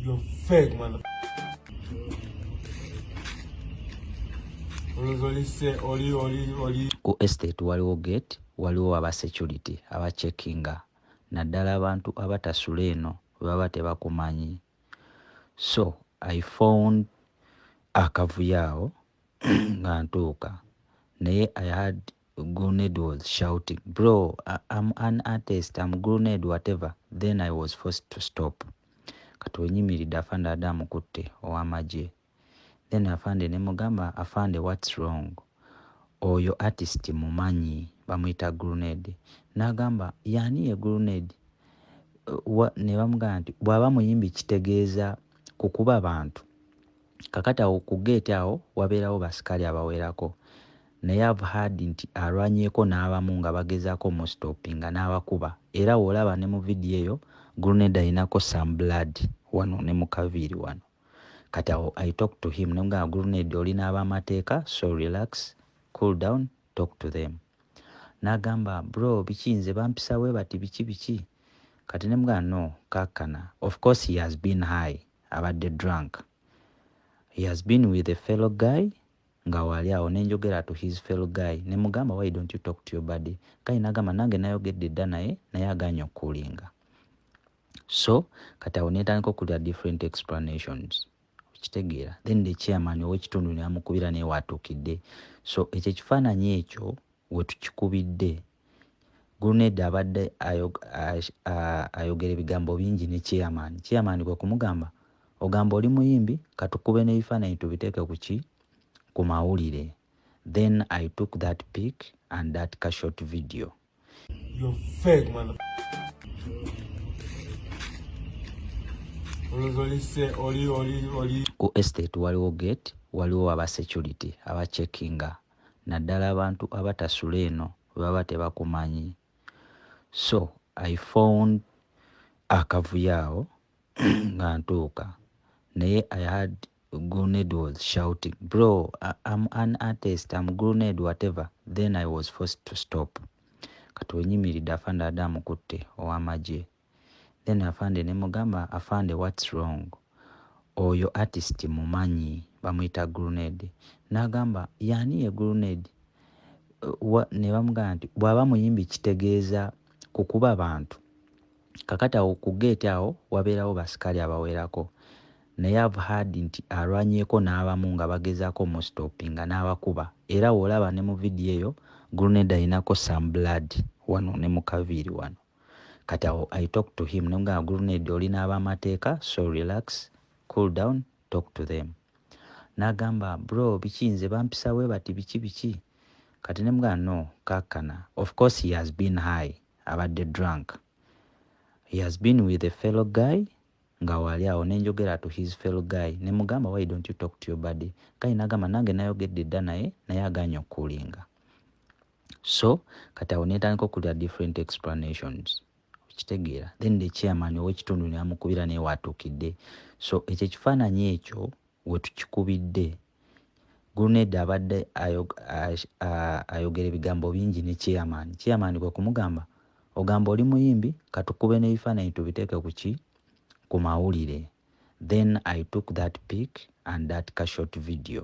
You're fake, mother. ku estate waliwo gate waliwo aba security aba checkinga naddala abantu abatasula eno bebaba tebakumanyi so i found akavuyo awo nga ntuuka naye i had Grenade was shouting, Bro, I, I'm an artist, I'm Grenade, whatever. Then I was forced to stop. Kati wenyimiridde afande ada amukutte ow'amagye. Then afande ne mugamba, afande what's wrong? Oyo artist mumanyi bamuyita Grenade. N'agamba, yani ye Grenade? Ne bamugamba nti bw'aba muyimbi kitegeeza kukuba bantu. kakati awo ku geeti awo wabeerawo basikaali abawerako naye I've heard nti alwanyeeko n'abamu nga bagezaako omustoppinga n'abakuba era w'olaba ne mu vidiyo eyo grenade alinako some blood wano ne mu kaviiri wano kati awo I talk to him ne mugamba grenade oli n'abamateeka so relax cool down talk to them n'agamba bro biki nze bampisa bwe bati biki biki kati ne mugamba no kakkana of course he has been high abadde drunk he has been with a fellow guy nga waali awo nenjogera to his fellow guy nemugamba why don't you talk to your body guy nagamba nange nayogedde dda naye naye aganye okukulinga so kati awo netandika okulira different explanations okitegeera then the chairman owekitundu namukubira naye watukidde so ekyo ekifaananyi ekyo wetukikubidde Gulunedda abadde ayogera ebigambo bingi ne chairman. Chairman kwe kumugamba, ogamba oli muyimbi katukube n'ebifaananyi tubiteeke ku ki? Ku mawulire. Then I took that pic and that ka short video. You're fake man. Ku estate waliwo gate, waliwo aba security aba checkinga naddala abantu abatasula eno bwebaba tebakumanyi so i found akavuyo awo nga ntuuka naye i had grenade was shouting bro am an artist am grenade whatever then i was forced to stop kati wenyimiridde afande adamu kutte owamagye then afande nemugamba afande what's wrong oyo artist mumanyi bamuyita grunade nagamba yani ye grunade nebamugamba nti bwaba muyimbi kitegeeza kukuba bantu kakati awo ku gate awo wabeerawo basikali abawerako naye av had nti alwanyeko n'abamu nga bagezako mustopinga n'abakuba era wolaba ne mu vidiyo eyo grunade ayinako some blood wano ne mukaviiri wano kati awo i talk to him nemugamba grenade oli n'abamateeka so relax cool down talk to them nagamba bro biki nze bampisa we bati biki biki kati nemugamba no kakkana of course he has been high abadde drunk he has been with a fellow guy nga wali awo nenjogera to his fellow guy nemugamba why don't you talk to your body guy nagamba nange nayogedde dda naye naye aganye okukulinga so kati awo netandika okulira different explanations okitegeera then the chairman owekitundu namukubira naye watukidde so ekyo ekifaananyi ekyo wetukikubidde guruneda abadde ayogera ebigambo bingi ne chairman chairman kwe kumugamba ogamba oli muyimbi katukube n'ebifaananyi tubiteeke ku ki ku mawulire then i took that pic and that cashot video